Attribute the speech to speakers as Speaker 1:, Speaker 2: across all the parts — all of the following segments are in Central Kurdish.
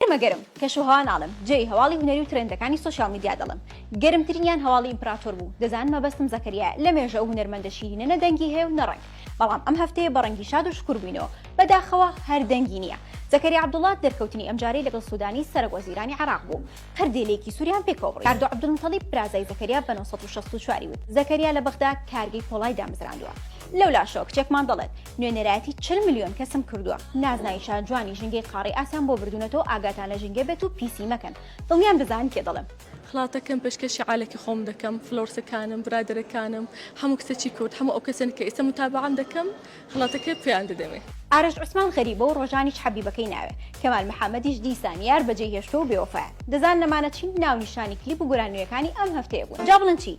Speaker 1: ئێمە گەرم، کەش و هەوا ناڵێم، جێی هەواڵی هونەری و ترێندەکانی سۆشیال میدیا دەڵێم. گەرمترینیان هەواڵی ئیمپراتۆر بوو. دەزانن مەبەستم زەکەریایە. لە مێژە ئەو هونەرمەندە شیرینە نە دەنگی هەیە و نە ڕەنگ. بەڵام ئەم هەفتەیە بە ڕەنگی شاد و شکور بووینەوە. بە داخەوە هەر دەنگی نییە. زەکەریا عەبدوڵا دەرکەوتنی ئەمجارەی لەگەڵ سوودانی سەرەک وەزیرانی عێراق بوو. پردی لێکی سووریان پێکەوە بڕی. کاردۆ عەبدولموتەڵیب برازای زەکەریا بە نۆ سەد و شەست و چوار ی وت، زەکەریا لە بەغدا کارگەی پۆڵای دامەزراندووە. لەولاشەوە کچێکمان دەڵێت، نوێنەرایەتی چل ملیۆن کەسم کردووە نازناوی شار جوانی ژینگەی قاڕی ئاسیان بۆ بردونەتەوە ئاگاتان لە ژینگە بێت و پیسی مەکەن دڵنیام دەزانن کێ دەڵێم. خڵاتەکەم پێشکەشی
Speaker 2: عالەکی خۆم دەکەم فلۆرسەکانم برادەرەکانم هەموو کچەکی کورد هەموو ئەو کەسەن کە ئیستە متابەعەم دەکەم خڵاتەکەی پێیان دەدەمێ. ئارەش عوسمان غەریبە
Speaker 1: و ڕۆژانیش حەبیبەکەی ناوێ کەمال محەمەدیش دیسان یار بەجێی هێشتوە و بێوەفایە دەزان نەمانە چی ناونیشانی کلیپ و گۆران نوێیەکانی ئەم هەفتەیە بوون جا بڵێن چی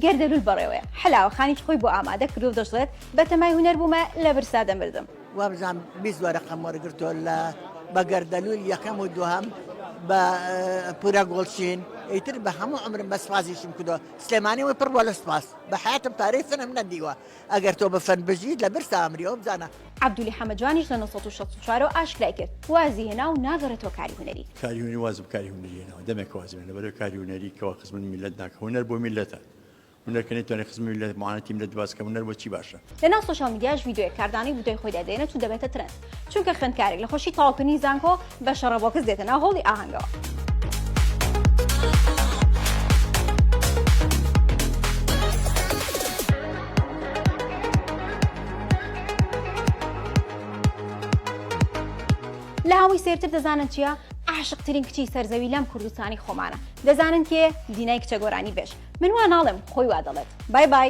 Speaker 1: گەر دەلول بەڕێوەیە حەلاوە خانیش خۆی بۆ ئامادە کردوە و دەشڵێت بە تەمای هونەر بوومە لە برسا دەمردم. وابزانم بیست
Speaker 3: وەرەقەم وەرگرتووە لە بە گەردەلوول یەکەم و دووهەم بە پورە گۆڵچین ئیتر بە هەموو عمرم بە سوپاسیشم کردووە سلێمانی وەی پڕ بووە لە سوپاس بە حەیاتم پارەی فنم نەدیوە ئەگەر تۆ بە فن بژیت لە برسا ئەمری ئەوە بزانە. عەبدولی حەمە جوانیش
Speaker 1: لە نۆ سەد و شەست و چوار ەوە ئاشکرای کرد وازی هێنا و ناگەڕێتەوە کاری هونەری. کاری هونەری وازم کاری
Speaker 4: هونەری هێناوە دەمێکە وازم هێنا بەرەو کاری هونەری کەوا خزمەت میللەت ناکە هونەر بۆ میللەتە هونەر کە نەیتوانی خزمی میللەت معانەتی میللەت باس کە هونەر بۆ چی باشە؟ لەناو سۆشیال میدیاش
Speaker 1: ڤیدیۆیەک کاردانەی بودەی خۆی دەدێنێت و دەبێتە ترەند چونکە خوێندکارێک لە خۆشی تەواوکردنی زانکۆ بە شەڕە بۆکس دێتە ناو هۆڵی ئاهەنگەوە. لە هەمووی سێرتر دەزانن چییە؟ عاشقترین کچی سەرزەوی لەم کوردستانی خۆمانە دەزانن کێ دینای کچە گۆرانی بێژ من وا ناڵێم خۆی وا دەڵێت بای بای.